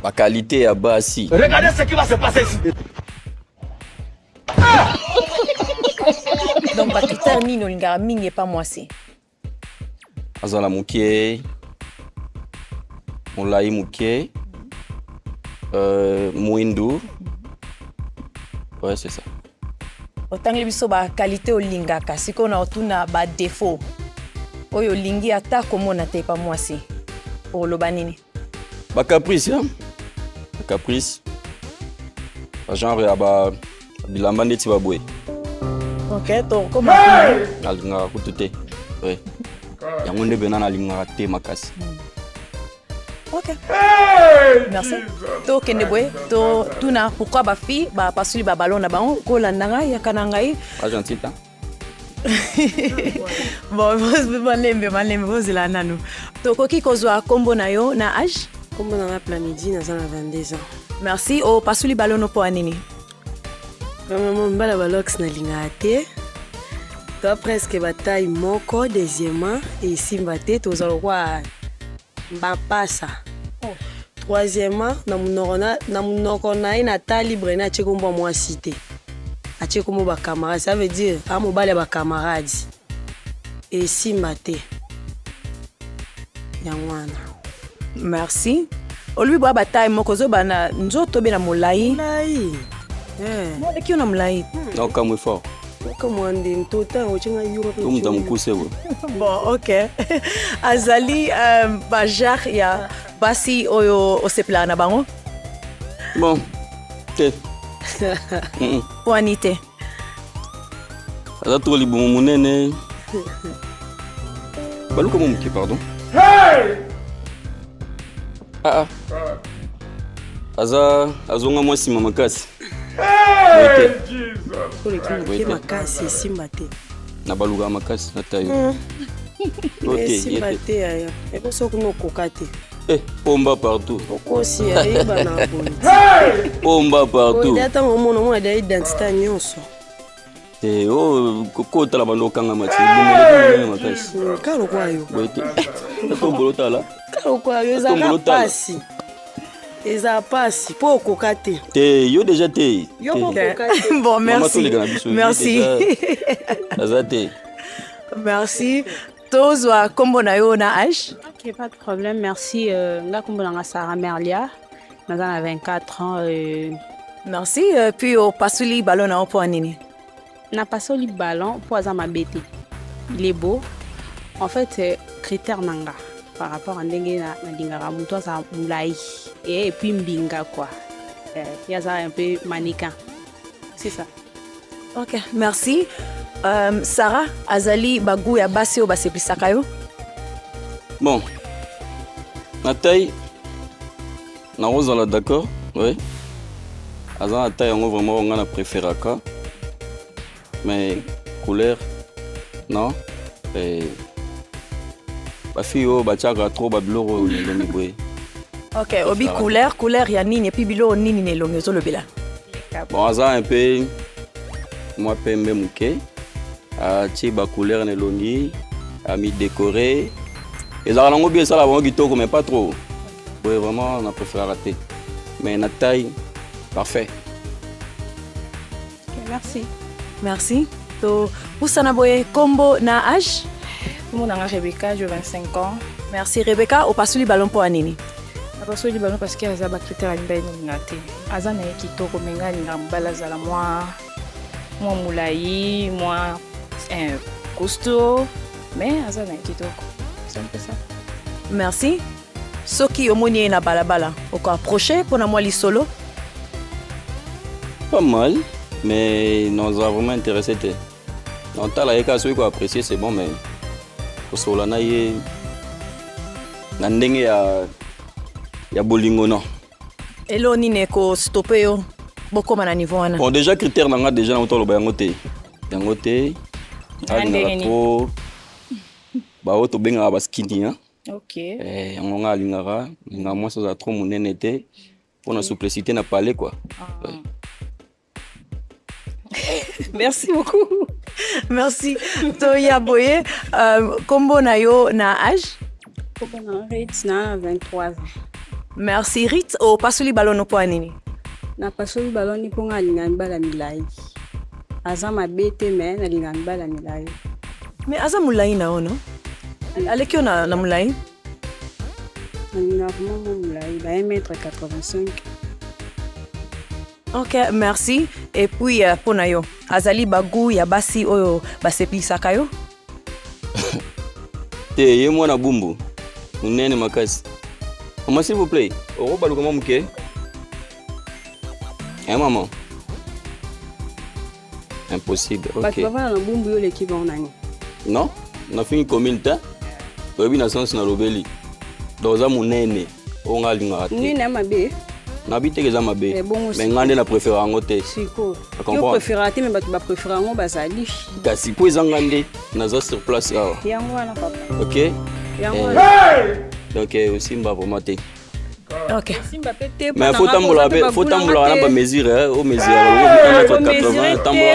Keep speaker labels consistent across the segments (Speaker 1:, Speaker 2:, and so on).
Speaker 1: Ba qualité ya basi. Regardez ce qui va se passer
Speaker 2: ici.
Speaker 3: Donc ba critère nini olingaka mingi epa mwasi?
Speaker 1: Aza na muke. Molai muke. Euh, muindu. Ouais, c'est ça. Otangeli
Speaker 3: biso ba qualité olingaka. Sikoyo na otuna ba défaut. Oyo olingi ata komona te epa mwasi. Oloba nini? Ba caprice,
Speaker 1: hein? Ba caprice. Ba genre ya ba bilamba ndeti ba boye. Ok,
Speaker 3: to comment? Nalingaka
Speaker 1: kutu te. Oui. Yango nde bena nalingaka te makasi.
Speaker 3: Hmm. Ok. Merci. To kende boye, to tuna pourquoi ba fille ba pasuli ba ballon na bango ko landanga ya kanangai. Argentine. bon malembe malembe bozela nanu tokoki kozwa nkombo na yo na age nkombo na nga plamidi
Speaker 4: naza na 22 ans merci opasuli
Speaker 3: balono mpo ya nini
Speaker 4: vraiment mbala balox nalingaka te to presque bataille moko deuxièmement esimba te toza lokwa Mapasa. Troisièmement, na munoko na, na munoko na ye na tali Brene atie kombo ya mwasi te. Atie kombo ba camarades. Ça veut dire, a mobali ya ba camarades. Esimba te. Yango wana. Merci.
Speaker 3: Olobi boya ba taille moko zoba na nzoto be na molayi. Molayi. Eh. Mwana kio na molayi. Naokamwe fort.
Speaker 4: Tumta mukuse bo.
Speaker 1: Bon, ok.
Speaker 3: Azali euh, ba genre ya basi oyo osepelaka na bango? Bon,
Speaker 1: te.
Speaker 3: Wani te.
Speaker 1: Aza trop libumu munene. Baluka mo muke, pardon. Hey! Ah ah. Aza azonga mwa nsima makasi.
Speaker 4: makasi esimba te na baluka
Speaker 1: makasi na tayo hmm.
Speaker 4: esimba te yaya eko soki nokoka te Eh, pomba
Speaker 1: partout. Okosi
Speaker 4: ayeba na boye. Pomba
Speaker 2: partout.
Speaker 1: Oya tango mona mwa da
Speaker 4: identité nyonso. Eh, oh,
Speaker 1: ko tala bando okanga mati bomelekanga makasi kaka lokola yo boye
Speaker 4: te
Speaker 1: tombolo eh, tala kaka lokola yo ezaka
Speaker 4: mpasi eza mpasi mpo okoka te te yo deja te
Speaker 1: yo okoka
Speaker 4: te bon merci
Speaker 3: merci
Speaker 1: aza te
Speaker 3: merci tozwa nkombo na yo na h ok pas de problème
Speaker 5: merci euh, nga nkombo na nga sara merlia naza na 24 ans euh, merci
Speaker 3: euh, puis opasoli balo na yo mpo nini napasoli
Speaker 5: ballon mpo aza mabe te il est beau en fait euh, critère na nga par rapport à ndenge nalingaka moto aza molai et puis mbinga quoi ye aza un peu maniquin c'est ça ok
Speaker 3: merci um, sarah azali bagu ya basi oyo baseplisaka yo
Speaker 1: bon na tai nakozala d'accord oui aza na tai yango vraiment ngai na préféraka mais couleur non Et... bafille oyo batiaka trop babiloko oyo na elongi boye ok obi
Speaker 3: couleur couleur ya nini epuis biloko nini na elongi ozolobela bon aza
Speaker 1: un peu mwa pembe moke atie ah, bacouleur na elongi amidekore ah, ezalaka nango bi esala bango kitoko mais pas trop boye vraiment na préféraka te mais na taille parfait okay,
Speaker 5: merci merci
Speaker 3: topusana boye kombo na age kombo nanga
Speaker 6: rebecca je 25 ans merci rebecca
Speaker 3: opasoli ballon mpo ya nini Napasoli bano
Speaker 6: parce que aza ba critère ya mibali nalinga te. Aza na ye kitoko mais ngai alingaka mobali azala mwa mwa molai mwa eh, costaud mais aza na ye kitoko. C'est un peu ça. merci
Speaker 3: soki omoni ye na balabala oko approche mpo na mwa lisolo
Speaker 1: Pas mal, mais non, ça a vraiment intéressé. t'es. Non, tala ye kaka soki ko apprécier c'est bon mais kosolola na ye na ndenge ya ya bolingo non. elo nini
Speaker 3: ekostope yo bokoma na niveau wana Bon déjà critère na nga
Speaker 1: déjà na toloba yango te. Yango te. Na ndenge Alingaka nini? trop ba oyo tobengaka ba skinny hein. ok Eh,
Speaker 6: yango nga
Speaker 1: alingaka nga mwasi azala trop monene te mpo na souplicité na palais quoi. Ouais.
Speaker 3: Merci beaucoup. Merci. Toya Boye, euh, combo na yo
Speaker 5: na
Speaker 3: âge? Combo na
Speaker 5: Ritz na 23
Speaker 3: ans. Merci Ritz. O oh, pasoli balono po nini? Na pasoli
Speaker 5: baloni po nga linga mbala milai. Aza mabe te mais na linga mbala milai. Mais aza
Speaker 3: mulai na ono? Aleki na na mulai?
Speaker 5: Na linga vraiment mulai, ba 1 mètre
Speaker 3: 85. Ok, merci. Et puis, euh, pona yo, azali bagou ya basi oyo basepilisaka yo?
Speaker 1: Te, ye mwana bumbu, munene makasi. Maman, s'il vous plaît, okobaluka mwa moke? Eh, maman. impossible bato okay. bavanda na bumbu yo oleki
Speaker 5: bango nani non
Speaker 1: nafingi commune te toyebi na sense nalobeli donc oza monene oyo ngai alingaka te monene ya mabe
Speaker 5: nabi teke eza
Speaker 1: mabe Eh, bongo me sikoyo. ngai nde na
Speaker 5: prefere
Speaker 1: yango te siko yo Comprendre.
Speaker 5: preferaka te
Speaker 1: me bato
Speaker 5: baprefere yango bazali kasi mpo eza
Speaker 1: ngai nde naza sur place awa yango wana papa
Speaker 5: ok
Speaker 1: yango Eh.
Speaker 5: wana
Speaker 1: donc eh, osimba vraimen te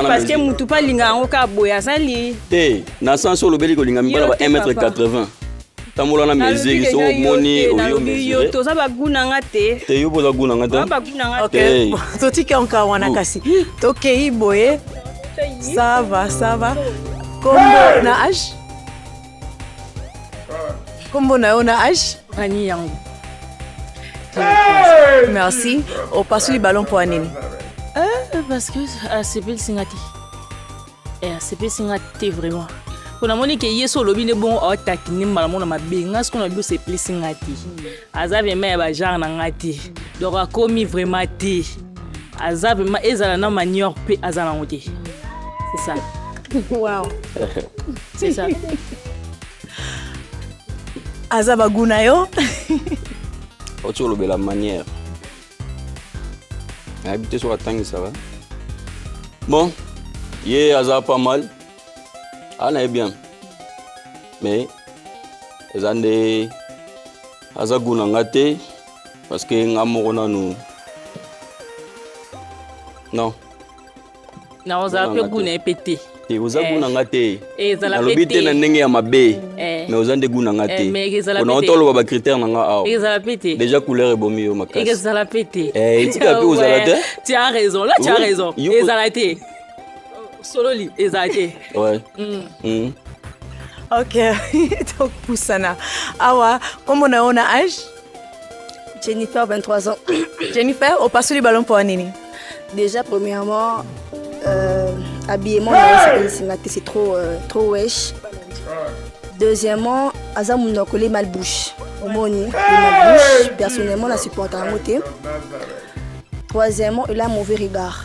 Speaker 1: parceke motu mpe alinga yango
Speaker 5: kaka boye azali te na sense
Speaker 1: olobeli kolinga mibala ba 1 mètre 80 tambola na mesure so omoni oyo toza bagu na nga
Speaker 5: te te yo boza gu na nga te totiki onka
Speaker 3: wana kasi tokei boye sava sava kombo na age Kombo na yo na age? Ani yango. Merci. Opasuli ballon mpo ya nini? Eh, parce
Speaker 6: que asepelisi nga te. Eh, asepelisi nga te vraiment. Mpo namoni ke ye so olobi nde bongo aotakine mbala moko na mabe. Nga sikoyo na biso esepelisi nga te. aza vraiment ya bagenre na ngai te donc akomi vraiment te aza vraiment ezala na manior mpe aza nango te c'est ça wow. c'est ça
Speaker 3: aza bagu na yo
Speaker 1: oti olobela manière nayebi te soki atangisaka bon ye aza pas mal anaye bien mais eza nde aza goût na nga te parce que nga moko nanu non
Speaker 6: na ozala mpe goût na ye mpe te te oza goût na nga
Speaker 1: te nalobi te
Speaker 6: na ndenge ya mabe
Speaker 1: mais oza nde goût na nga te pona ota oloba bacritère na nga awa déjà
Speaker 6: couleur ebomi yo
Speaker 1: makasi
Speaker 6: etika mpe ozala
Speaker 1: te tu as raison là tu as
Speaker 6: raison ezala te sololi eza te ouais. mm.
Speaker 1: Mm.
Speaker 3: ok tokopusana awa kombo na yo na age
Speaker 4: jennifer 23 ans jennifer
Speaker 3: opasoli balo mpo ya nini déjà
Speaker 4: premièrement euh, habillement na yo sepelisi nga te c'est trop, euh, trop wesh deuxièmement aza mundu akoli mal bouche omoni mal bouche personnellement na supporta yango te troisièmement il a mauvais regard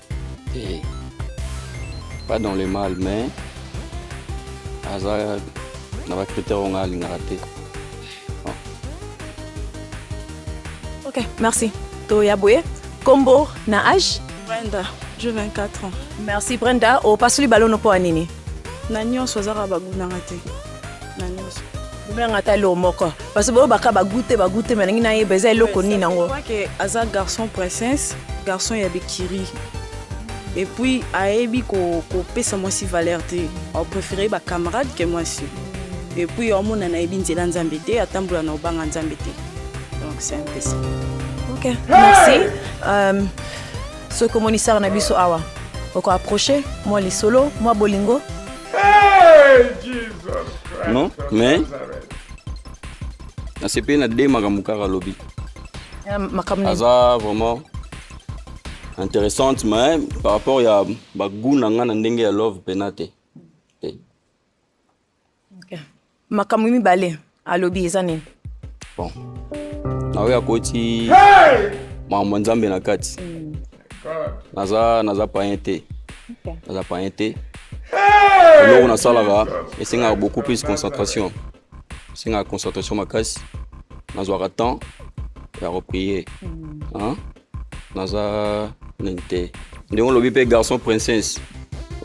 Speaker 3: Eh,
Speaker 1: pas dans le mal mais aza na ba critère oyo ngai alingaka te
Speaker 3: ok merci toya boye kombo na age brenda je 24
Speaker 7: ans merci brenda
Speaker 3: opasoli balono mpo ya nini na nyonso
Speaker 7: azaka bagunanga te na nyonso nanga ata
Speaker 3: eloko moko parce boyo baka bagute bagute malingi nayeba eza eloko nini yango ke aza
Speaker 7: garçon princesse garçon ya bikiri et puis ayebi kopesa ko mwasi valeur te apréféré bacamarade ke mwasi et puis omona nayebi nzela nzambe te atambola na obanga nzambe te donc c'est un peu ça ok
Speaker 3: merci euh, soki omonisaka na biso awa oko approche mwa lisolo mwa bolingo Hey,
Speaker 2: Jesus Christ Non, of mais-
Speaker 1: Nazareth. nasepeli na de makambo kaka alobi Eh, makambo nini aza vraiment intéressante mais par rapport ya bagout na ngai na ndenge ya love mpena te te Okay.
Speaker 3: makambo mibale alobi eza nini bon
Speaker 1: naoyo akoti makambo ya nzambe na kati mm. naza naza payen te naza payen te eloko nasalaka esengaka beaucoup plus concentration esengaka concentration makasi nazwaka temps ya koprie mm. naza nini te ndenge olobi mpe garçon princesse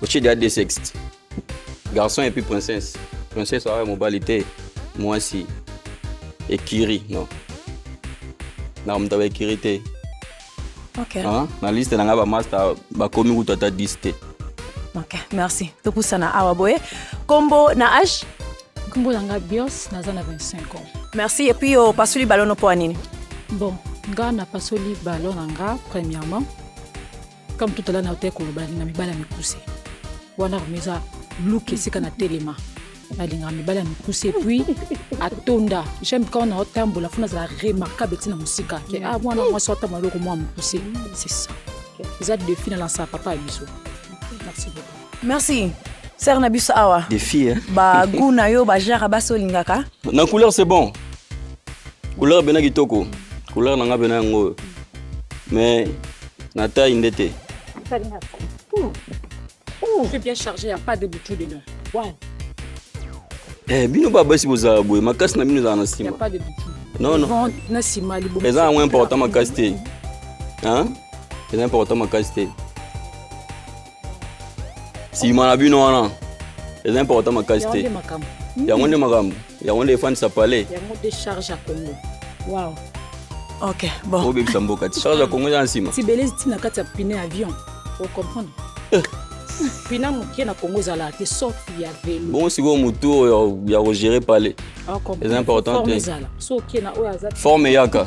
Speaker 1: otie dia de sexte garçon epuis princesse princesse awa mobali te mwasi ekiri no na moto aba ekiri te okay.
Speaker 3: ah, na liste na
Speaker 1: ngai bamasta bakomi kutu ata 10 te ok
Speaker 3: merci topusana awa boye kombo na age kombo na ngai
Speaker 8: bios naza na 25 ans merci epuis
Speaker 3: opasoli balono mpo ya nini bon
Speaker 8: nga napasoli balo na nga premièrement comme tout à l'heure nautaki koloba nalinga mibala mikuse wana vraimen eza luke esika na telema nalinga mibala mikuse epuis atonda jaime quand naotambola fo nazala remarquable ntina mosika ke a ah, mwana mwasi atambola eloko mwa mokuse c'est ça eza defi na lansaka papa ya biso merci beaucoup Merci.
Speaker 3: Serre na biso awa. Des filles. Hein? Ba
Speaker 1: goût na yo ba
Speaker 3: genre ba solingaka. Na couleur c'est bon.
Speaker 1: Couleur bena kitoko. Couleur na nga bena yango. Mais na taille ndete. C'est
Speaker 8: bien chargé, il n'y a pas de boutou dedans. Ouais.
Speaker 1: Eh, bino ba basi bozala boye makasi na bino ezala na nsima. Il n'y a pas de boutou.
Speaker 8: Non non. Na
Speaker 1: nsima liboso.
Speaker 8: Eza yango important makasi
Speaker 1: te. Hein? Eza important makasi te. nsima na bino wana eza important makasi te yango nde makambo yango nde efandisa palais yango nde
Speaker 8: charge
Speaker 3: ya congo wow. ok bon obebisa mboka ti charge ya
Speaker 1: congo eza na nsima tibelezi ti na kati ya
Speaker 8: pine avion ocomprendre eh. pina moke na congo ezalaka te sauf ya velo bongo sikoyo motu oyo
Speaker 1: ya kogere palais eza important te
Speaker 8: forme eyaka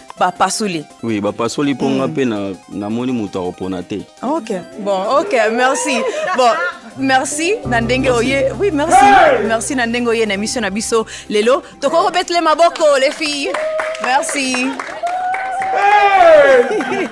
Speaker 3: bapasoli oui bapasoli mpo
Speaker 1: nga mpe hmm. namoni moto akopona te ok bon
Speaker 3: ok merci bon merci na ndenge oye oui merci merci na ndenge oye na émission na biso lelo tokoki kobetele maboko les filles merci hey!